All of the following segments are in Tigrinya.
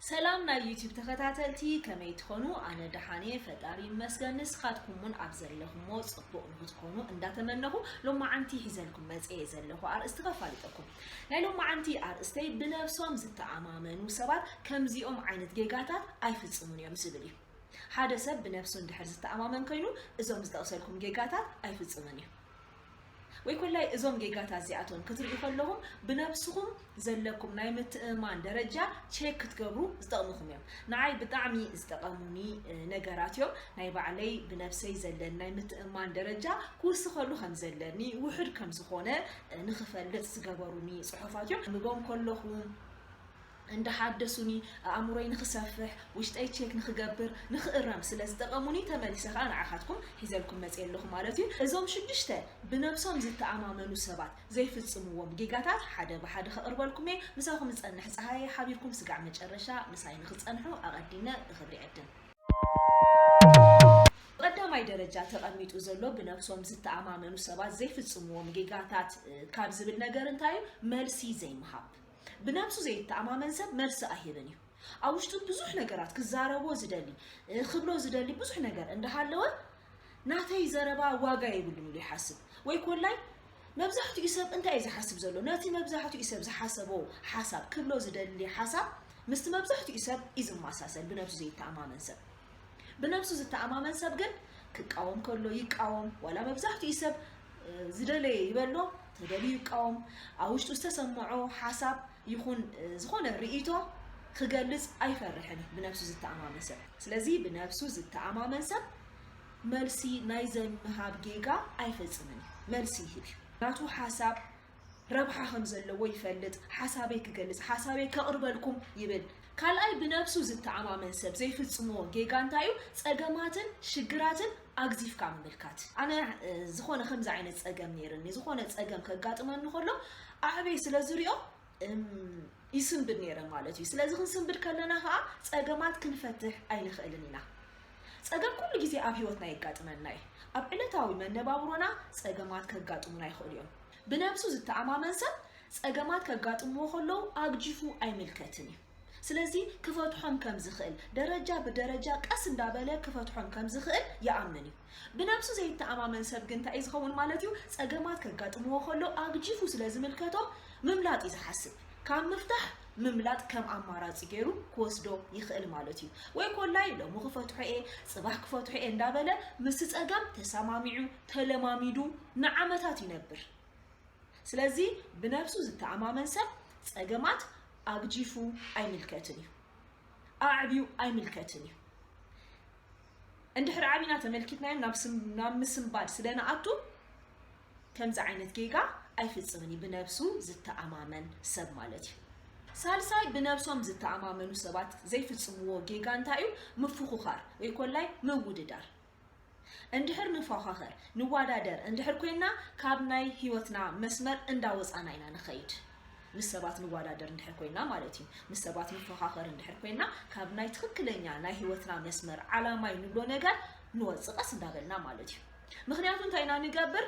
ሰላም ናይ ዩቲዩብ ተኸታተልቲ ከመይ ትኾኑ? ኣነ ደሓን እየ ፈጣሪ ይመስገን። ንስኻትኩም እውን ኣብ ዘለኹሞ ፅቡቕ ንክትኮኑ እንዳተመነኹ ሎማዓንቲ ሒዘልኩም መፅየ ዘለኹ ኣርእስቲ ከፋልጠኩም። ናይ ሎማዓንቲ ኣርእስተይ ብነብሶም ዝተኣማመኑ ሰባት ከምዚኦም ዓይነት ጌጋታት ኣይፍፅሙን እዮም ዝብል እዩ። ሓደ ሰብ ብነብሱ እንድሕር ዝተኣማመን ኮይኑ እዞም ዝጠቕሰልኩም ጌጋታት ኣይፍፅምን እዩ። ወይ ኮላይ እዞም ጌጋታት እዚኣቶም ክትርእዩ ከለኹም ብነብስኹም ዘለኩም ናይ ምትእምማን ደረጃ ቼክ ክትገብሩ ዝጠቕምኹም እዮም። ንዓይ ብጣዕሚ ዝጠቐሙኒ ነገራት እዮም። ናይ ባዕለይ ብነብሰይ ዘለኒ ናይ ምትእምማን ደረጃ ክውስኸሉ ከም ዘለኒ ውሑድ ከም ዝኾነ ንኽፈልጥ ዝገበሩኒ ጽሑፋት እዮም። ከንብቦም ከለኹ እንዳሓደሱኒ፣ ኣእምሮይ ንኽሰፍሕ፣ ውሽጠይ ቼክ ንኽገብር፣ ንኽእረም፣ ስለ ዝጠቐሙኒ ተመሊሰ ከኣ ንዓኻትኩም ሒዘልኩም መጼ ኣለኹ ማለት እዩ። እዞም ሽዱሽተ ብነብሶም ዝተኣማመኑ ሰባት ዘይፍጽምዎም ጌጋታት ሓደ ብሓደ ከቕርበልኩም እየ። ምሳኹም ዝጸንሕ ጸሃየ እየ። ሓቢርኩም ስጋዕ መጨረሻ ምሳይ ንኽትጸንሑ ኣቐዲመ ብኽብሪ እዕድም። ብቐዳማይ ደረጃ ተቐሚጡ ዘሎ ብነብሶም ዝተኣማመኑ ሰባት ዘይፍጽምዎም ጌጋታት ካብ ዝብል ነገር እንታይ እዩ መልሲ ዘይምሃብ። ብነብሱ ዘይተኣማመን ሰብ መልሲ ኣይህብን እዩ። ኣብ ውሽጡ ብዙሕ ነገራት ክዛረቦ ዝደሊ ክብሎ ዝደሊ ብዙሕ ነገር እንዳሃለወ ናተይ ዘረባ ዋጋ የብሉን ኢሉ ይሓስብ ወይ ኮላይ መብዛሕትኡ ሰብ እንታይ እዩ ዝሓስብ ዘሎ ነቲ መብዛሕትኡ ሰብ ዝሓሰቦ ሓሳብ ክብሎ ዝደሊ ሓሳብ ምስቲ መብዛሕትኡ ሰብ እዩ ዝመሳሰል ብነብሱ ዘይተኣማመን ሰብ ብነብሱ ዝተኣማመን ሰብ ግን ክቃወም ከሎ ይቃወም ዋላ መብዛሕትኡ ሰብ ዝደለየ ይበሎ ተደልዩ ይቃወም ኣብ ውሽጡ ዝተሰምዖ ሓሳብ ይኹን ዝኾነ ርእይቶ ክገልጽ ኣይፈርሕን እዩ ብነብሱ ዝተኣማመን ሰብ ስለዚ ብነብሱ ዝተኣማመን ሰብ መልሲ ናይ ዘምሃብ ጌጋ ኣይፈጽምን እዩ መልሲ ይህብ እዩ ናቱ ሓሳብ ረብሓ ከምዘለዎ ይፈልጥ ሓሳበይ ክገልጽ ሓሳበይ ከቕርበልኩም ይብል። ካልኣይ ብነብሱ ዝተኣማመን ሰብ ዘይፍጽሞ ጌጋ እንታይ እዩ ጸገማትን ሽግራትን ኣግዚፍካ ምምልካት። ኣነ ዝኾነ ከምዚ ዓይነት ጸገም ነይርኒ ዝኾነ ጸገም ከጋጥመኒ ከሎ ኣዕበይ ስለ ዝሪኦ ይስንብድ ነይረ ማለት እዩ። ስለዚ ክንስንብድ ከለና ከዓ ጸገማት ክንፈትሕ ኣይንኽእልን ኢና። ጸገም ኩሉ ግዜ ኣብ ህይወትና የጋጥመና እዩ። ኣብ ዕለታዊ መነባብሮና ጸገማት ከጋጥሙና ይኽእሉ እዮም። ብነብሱ ዝተኣማመን ሰብ ጸገማት ከጋጥምዎ ከለዉ ኣግጂፉ ኣይምልከትን እዩ። ስለዚ ክፈትሖም ከም ዝኽእል፣ ደረጃ ብደረጃ ቀስ እንዳበለ ክፈትሖም ከም ዝኽእል ይኣምን እዩ። ብነብሱ ዘይተኣማመን ሰብ ግን እንታይ እዩ ዝኸውን ማለት እዩ? ጸገማት ከጋጥምዎ ከለዉ ኣግጂፉ ስለ ዝምልከቶም ምምላጥ እዩ ዝሓስብ። ካብ ምፍታሕ ምምላጥ ከም ኣማራፂ ገይሩ ክወስዶ ይኽእል ማለት እዩ። ወይ ኮላይ ሎሚ ክፈትሖ እየ ፅባሕ ክፈትሖ እየ እንዳበለ ምስ ፀገም ተሰማሚዑ ተለማሚዱ ንዓመታት ይነብር። ስለዚ ብነብሱ ዝተኣማመን ሰብ ፀገማት ኣግጂፉ ኣይምልከትን እዩ። ኣዕብዩ ኣይምልከትን እዩ። እንድሕር ዓቢና ተመልኪትናዮም ናብ ምስንባድ ስለንኣቱ ከምዚ ዓይነት ጌጋ ኣይፍጽምን እዩ ብነብሱ ዝተኣማመን ሰብ ማለት እዩ። ሳልሳይ ብነብሶም ዝተኣማመኑ ሰባት ዘይፍጽምዎ ጌጋ እንታይ እዩ ምፍኹኻር ወይ ኮላይ ምውድዳር እንድሕር ንፋኻኸር ንዋዳደር እንድሕር ኮይና ካብ ናይ ሂወትና መስመር እንዳወጻና ኢና ንኸይድ ምስ ሰባት ንዋዳደር እንድሕር ኮይና ማለት እዩ ምስ ሰባት ንፋኻኸር እንድሕር ኮይና ካብ ናይ ትኽክለኛ ናይ ሂወትና መስመር ዓላማይ ንብሎ ነገር ንወጽእ ቀስ እንዳበልና ማለት እዩ። ምኽንያቱ እንታይ ኢና ንገብር?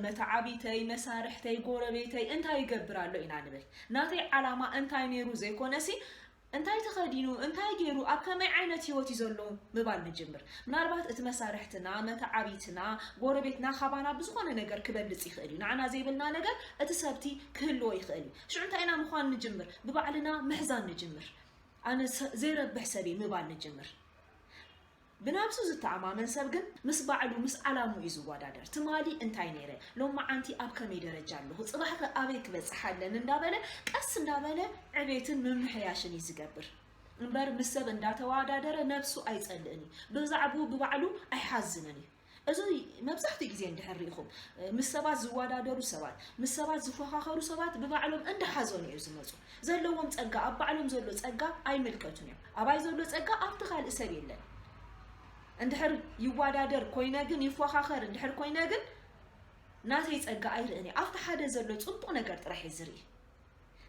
መተዓቢተይ፣ መሳርሕተይ፣ ጎረቤተይ እንታይ ይገብር ኣሎ ኢና ንብል። ናተይ ዓላማ እንታይ ነይሩ ዘይኮነሲ እንታይ ተኸዲኑ እንታይ ገይሩ ኣብ ከመይ ዓይነት ህይወት እዩ ዘሎ ምባል ንጅምር። ምናልባት እቲ መሳርሕትና፣ መተዓቢትና፣ ጎረቤትና ካባና ብዝኾነ ነገር ክበልፅ ይኽእል እዩ። ንዓና ዘይብልና ነገር እቲ ሰብቲ ክህልዎ ይኽእል እዩ። ሽዑ እንታይ ኢና ምዃን ንጅምር? ብባዕልና ምሕዛን ንጅምር። ኣነ ዘይረብሕ ሰብ እየ ምባል ንጅምር። ብናብሱ ዝተኣማመን ሰብ ግን ምስ ባዕሉ ምስ ዓላምኡ እዩ ዝወዳደር። ትማሊ እንታይ ነይረ፣ ሎማዓንቲ ኣብ ከመይ ደረጃ ኣለኹ፣ ጽባሕ'ኸ ኣበይ ክበጽሕ ኣለኒ እንዳበለ ቀስ እንዳበለ ዕቤትን ምምሕያሽን እዩ ዝገብር። እምበር ምስ ሰብ እንዳተወዳደረ ነብሱ ኣይጸልእን እዩ። ብዛዕብኡ ብባዕሉ ኣይሓዝንን እዩ። እዚ መብዛሕትኡ ግዜ እንድሕር ርኢኹም ምስ ሰባት ዝወዳደሩ ሰባት ምስ ሰባት ዝፎኻኸሩ ሰባት ብባዕሎም እንዳሓዘኑ እዩ ዝመፁ ዘለዎም ፀጋ ኣብ ባዕሎም ዘሎ ፀጋ ኣይምልከቱን እዮም ኣባይ ዘሎ ፀጋ ኣብቲ ካልእ ሰብ የለን እንድሕር ይወዳደር ኮይነ ግን ይፎኻኸር እንድሕር ኮይነ ግን ናተይ ፀጋ ኣይርእን እየ ኣብቲ ሓደ ዘሎ ፅቡቕ ነገር ጥራሕ እየ ዝርኢ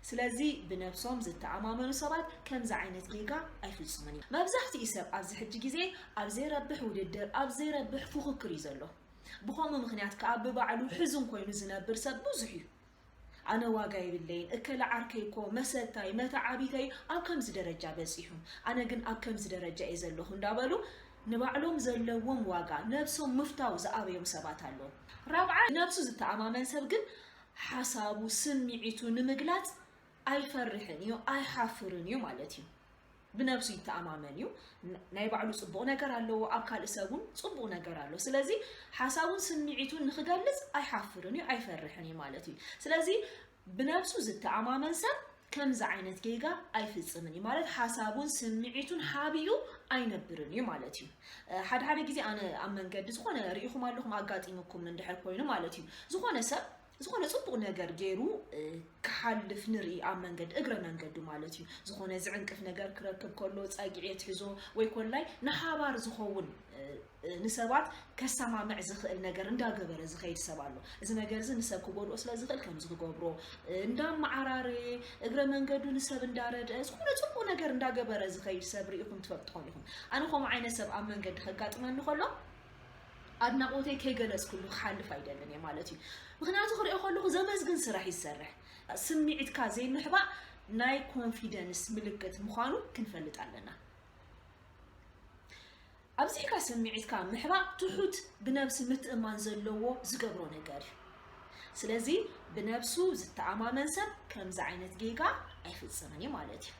ስለዚ ብነብሶም ዝተኣማመኑ ሰባት ከምዚ ዓይነት ጌጋ ኣይፍጽሙን እዮም። መብዛሕትኡ ሰብ ኣብዚ ሕጂ ግዜ ኣብ ዘይረብሕ ውድድር፣ ኣብ ዘይረብሕ ፉኽክር እዩ ዘሎ። ብኸምኡ ምኽንያት ከኣ ብባዕሉ ሕዙን ኮይኑ ዝነብር ሰብ ብዙሕ እዩ። ኣነ ዋጋ የብለይን፣ እከለ ዓርከይ እኮ፣ መሰታይ፣ መተዓቢተይ ኣብ ከምዚ ደረጃ በጺሑ፣ ኣነ ግን ኣብ ከምዚ ደረጃ እየ ዘለኹ እንዳበሉ ንባዕሎም ዘለዎም ዋጋ፣ ነብሶም ምፍታው ዝኣበዮም ሰባት ኣለዉ። ራብዓይ፣ ብነብሱ ዝተኣማመን ሰብ ግን ሓሳቡ ስምዒቱ ንምግላጽ ኣይፈርሕን እዩ ኣይሓፍርን እዩ ማለት እዩ። ብነብሱ ይተኣማመን እዩ። ናይ ባዕሉ ጽቡቕ ነገር ኣለዎ፣ ኣብ ካልእ ሰብ እውን ጽቡቕ ነገር ኣሎ። ስለዚ ሓሳቡን ስምዒቱን ንኽገልጽ ኣይሓፍርን እዩ ኣይፈርሕን እዩ ማለት እዩ። ስለዚ ብነብሱ ዝተኣማመን ሰብ ከምዚ ዓይነት ጌጋ ኣይፍጽምን እዩ ማለት ሓሳቡን ስምዒቱን ሓቢኡ ኣይነብርን እዩ ማለት እዩ። ሓደ ሓደ ግዜ ኣነ ኣብ መንገዲ ዝኾነ ርኢኹም ኣለኹም ኣጋጢሙኩም እንድሕር ኮይኑ ማለት እዩ ዝኾነ ሰብ ዝኾነ ጽቡቕ ነገር ገይሩ ክሓልፍ ንርኢ ኣብ መንገዲ እግረ መንገዱ ማለት እዩ ዝኾነ ዝዕንቅፍ ነገር ክረክብ ከሎ ጸግዒ የትሕዞ ወይ ኮላይ ንሓባር ዝኸውን ንሰባት ከሳማምዕ ዝኽእል ነገር እንዳገበረ ዝኸይድ ሰብ ኣሎ። እዚ ነገር እዚ ንሰብ ክጎድኦ ስለ ዝኽእል ከምዚ ክገብሮ እንዳመዓራረየ እግረ መንገዱ ንሰብ እንዳረድአ ዝኾነ ጽቡቕ ነገር እንዳገበረ ዝኸይድ ሰብ ርኢኹም ትፈልጡ ኢኹም። ኣነ ከምኡ ዓይነት ሰብ ኣብ መንገዲ ከጋጥመኒ ከሎ ኣድናቖተይ ከይገለጽኩሉ ክሓልፍ ኣይደልን እየ ማለት እዩ። ምክንያቱ ክሪኦ ከለኹ ዘመስግን ስራሕ እዩ ዝሰርሕ። ስምዒትካ ዘይምሕባእ ናይ ኮንፊደንስ ምልክት ምዃኑ ክንፈልጥ ኣለና። ኣብዚሕካ ስምዒትካ ምሕባእ ትሑት ብነብሲ ምትእምማን ዘለዎ ዝገብሮ ነገር እዩ። ስለዚ ብነብሱ ዝተኣማመን ሰብ ከምዚ ዓይነት ጌጋ ኣይፍጽምን እዩ ማለት እዩ።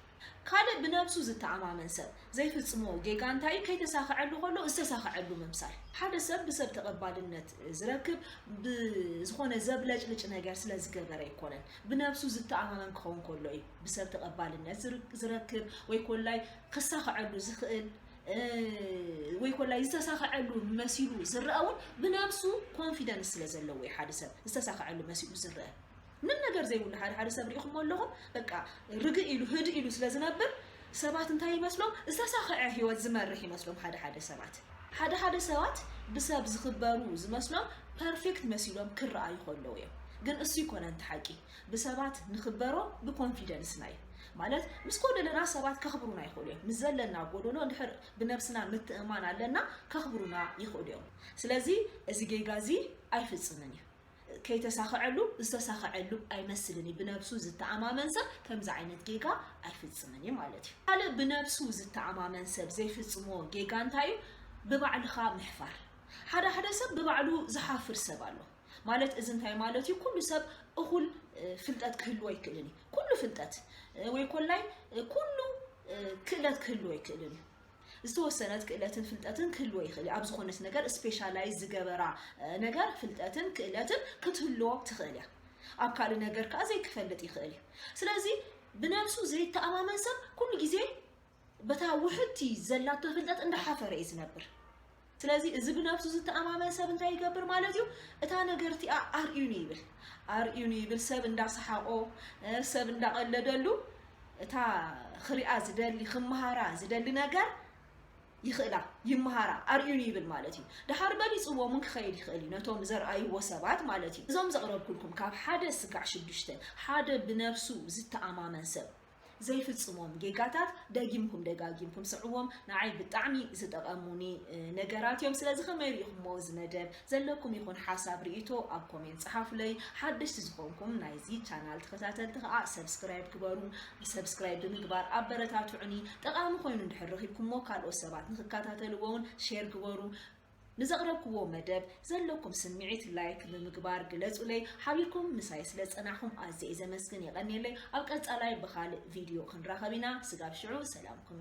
ካልእ ብነብሱ ዝተኣማመን ሰብ ዘይፍጽሞ ጌጋ እንታይ እዩ? ከይተሳኸዐሉ ከሎ ዝተሳኸዐሉ ምምሳል። ሓደ ሰብ ብሰብ ተቐባልነት ዝረክብ ብዝኾነ ዘብለጭልጭ ነገር ስለ ዝገበረ ኣይኮነን። ብነብሱ ዝተኣማመን ክኸውን ከሎ እዩ ብሰብ ተቐባልነት ዝረክብ ወይ ኮላይ ክሳኸዐሉ ዝኽእል። ወይ ኮላይ ዝተሳኸዐሉ መሲሉ ዝረኣ እውን ብነብሱ ኮንፊደንስ ስለ ዘለዎ እዩ ሓደ ሰብ ዝተሳኸዐሉ መሲሉ ዝረአ ምንም ነገር ዘይብሉ ሓደ ሓደ ሰብ ሪኢኹሞ ኣለኹም በቃ ርግእ ኢሉ ህድእ ኢሉ ስለ ዝነብር ሰባት እንታይ ይመስሎም ዝተሳኸዐ ህይወት ዝመርሕ ይመስሎም ሓደ ሓደ ሰባት ሓደ ሓደ ሰባት ብሰብ ዝኽበሩ ዝመስሎም ፐርፌክት መሲሎም ክረኣዩ ከለዉ እዮም ግን እሱ ይኮነ እንተ ሓቂ ብሰባት ንክበሮ ብኮንፊደንስና እዩ ማለት ምስ ጎደለና ሰባት ከኽብሩና ይኽእሉ እዮም ምስ ዘለና ጎደሎ እንድሕር ብነብስና ምትእማን ኣለና ከኽብሩና ይኽእሉ እዮም ስለዚ እዚ ጌጋ እዚ ኣይፍፅምን እዩ ከይተሳኸዐሉ ዝተሳኸዐሉ ኣይመስልን እዩ ብነብሱ ዝተኣማመን ሰብ ከምዚ ዓይነት ጌጋ ኣይፍፅምን እዩ ማለት እዩ ካልእ ብነብሱ ዝተኣማመን ሰብ ዘይፍፅሞ ጌጋ እንታይ እዩ ብባዕልኻ ምሕፋር ሓደ ሓደ ሰብ ብባዕሉ ዝሓፍር ሰብ ኣሎ ማለት እዚ እንታይ ማለት እዩ? ኩሉ ሰብ እኹል ፍልጠት ክህልዎ ኣይክእልን እዩ። ኩሉ ፍልጠት ወይ ኮላይ ኩሉ ክእለት ክህልዎ ኣይክእልን እዩ። ዝተወሰነት ክእለትን ፍልጠትን ክህልዎ ይኽእል እዩ። ኣብ ዝኾነት ነገር ስፔሻላይዝ ዝገበራ ነገር ፍልጠትን ክእለትን ክትህልዎ ትኽእል እያ። ኣብ ካልእ ነገር ከዓ ዘይክፈልጥ ይኽእል እዩ። ስለዚ ብነብሱ ዘይተኣማመን ሰብ ኩሉ ግዜ በታ ውሕድቲ ዘላቶ ፍልጠት እንዳሓፈረ እዩ ዝነብር ስለዚ እዚ ብነብሱ ዝተኣማመን ሰብ እንታይ ይገብር ማለት እዩ እታ ነገርቲኣ ኣርእዩኒ ይብል ኣርእዩኒ ይብል ሰብ እንዳሰሓቆ ሰብ እንዳቀለደሉ እታ ክሪኣ ዝደሊ ክመሃራ ዝደሊ ነገር ይኽእላ ይመሃራ ኣርእዩኒ ይብል ማለት እዩ ድሓር በሊፅዎ እውን ክኸይድ ይኽእል እዩ ነቶም ዘርኣይዎ ሰባት ማለት እዩ እዞም ዘቕረብኩልኩም ካብ ሓደ ስጋዕ ሽዱሽተ ሓደ ብነብሱ ዝተኣማመን ሰብ ዘይፍጽሞም ጌጋታት ደጊምኩም ደጋጊምኩም ስዕዎም ንዓይ ብጣዕሚ ዝጠቐሙኒ ነገራት እዮም ስለዚ ከመይ ርኢኹሞ እዚ መደብ ዘለኩም ይኹን ሓሳብ ርእይቶ ኣብ ኮሜንት ጸሓፉለይ ሓደሽቲ ዝኾንኩም ናይዚ ቻናል ተኸታተልቲ ከኣ ሰብስክራይብ ግበሩ ሰብስክራይብ ብምግባር ኣበረታትዑኒ ጠቓሚ ኮይኑ እንድሕር ረኺብኩሞ ካልኦት ሰባት ንኽከታተልዎውን ሼር ግበሩ ንዘቕረብክዎ መደብ ዘለኩም ስምዒት ላይክ ብምግባር ግለጹለይ ሓቢርኩም ምሳይ ስለ ዝጸናሕኩም ኣዝየ እየ ዘመስግን የቐንየለይ ኣብ ቀጻላይ ብኻልእ ቪድዮ ክንራኸብ ኢና ስጋብ ሽዑ ሰላምኩም